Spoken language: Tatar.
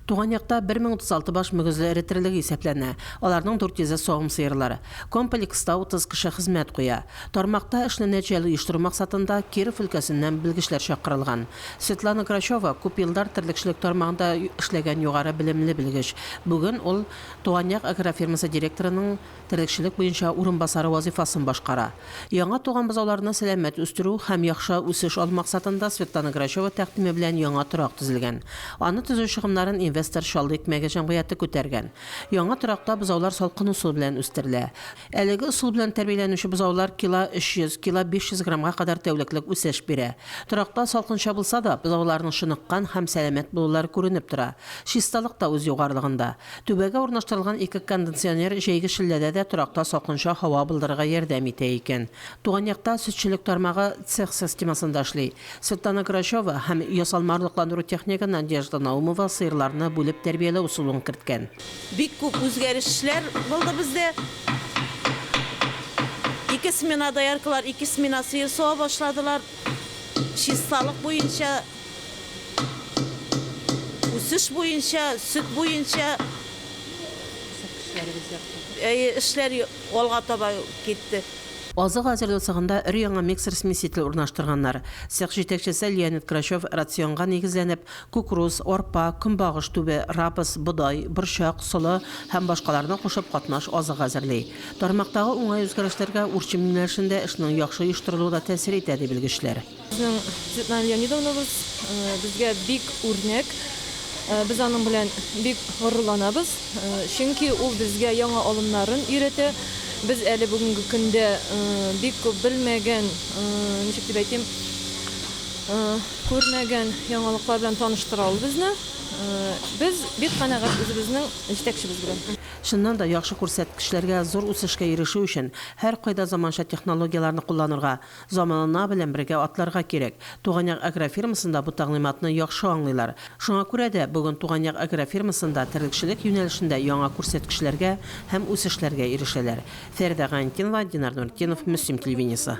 Туган якта 1036 баш мөгезле эретерлеге исәпләнә, аларның 400-е савым сыерлар. Комплекста 30 кеше хезмәт куя. Тармакта эшне нәтиҗәле оештыру максатында Киров өлкәсеннән белгечләр чакырылган. Светлана Грачева, күп еллар терлекчелек тармагында эшләгән югары белемле белгеч. Бүген ул Туган як агрофирмасы директорының терлекчелек буенча урынбасары вазыйфасын башкара. Яңа туган бозауларны сәламәт үстерү һәм яхшы үсеш алу максатында Светлана Грачева тәкъдиме белән яңа торак төзелгән. Аны төзү чыгымнарын инвестор Чаллы икмәге җәмгыяте күтәргән. Яңа торакта бозаулар салкын усыл белән үстерелә. Әлеге осыл белән тәрбияләнүче бозаулар кило 300, кило 500 граммга кадәр тәүлеклек үсеш бирә. Торакта салкынча булса да, бозауларның чыныккан һәм сәламәт булулары күренеп тора. Чисталык та үз югарылыгында. Түбәгә урнаштырылган ике кондиционер җәйге челләдә дә торакта салкынча һава былдырырга ярдәм итә икән. Туган якта сөтчелек тармагы цех системасында эшли. Светлана Грачева һәм ясалма орлыкландыру технигы Надежда Наумова сыерларны бүлеп тәрбияләү ысулын керткән. Бик күп үзгәрешләр булды бездә. Ике смена дояркалар ике смена сыер сава башладылар. Чисталык буенча. Үсеш буенча, сөт буенча, әйе, эшләр алга таба китте. Азык әзерләү цехында өр-яңа миксер-смеситель урнаштырганнар. Цех җитәкчесе Леонид Грачев рационга нигезләнеп, кукуруз, арпа, көнбагыш түбе, рапс, бодай, борчак, солы һәм башкаларны кушып катнаш азык әзерли. Тармактагы уңай үзгәрешләргә урчим юнәлешендә эшнең яхшы оештырылуы да тәэсир итә, ди белгечләр. Безнең Светлана Леонидовнабыз безгә бик үрнәк. Без аның белән бик горурланабыз, чөнки ул безгә яңа алымнарын өйрәтә. Без әле бүгенге көндә бик күп белмәгән, ничек дип әйтим, күрмәгән яңалыклар белән таныштыра ул безне. Без бик канәгать үзебезнең җитәкчебез белән. Чыннан да, яхшы күрсәткечләргә, зур үсешкә ирешү өчен, һәркайда заманча технологияләрне кулланырга, Заманана белән бергә атларга кирәк. Туган як агрофирмасында бу тәгълиматны яхшы аңлыйлар. Шуңа күрә дә, бүген Туган як агрофирмасында терлекчелек юнәлешендә яңа күрсәткечләргә һәм үсешләргә ирешәләр. Фәридә Гаинтдинова, Динар Нуретдинов, Мөслим телевидениесе.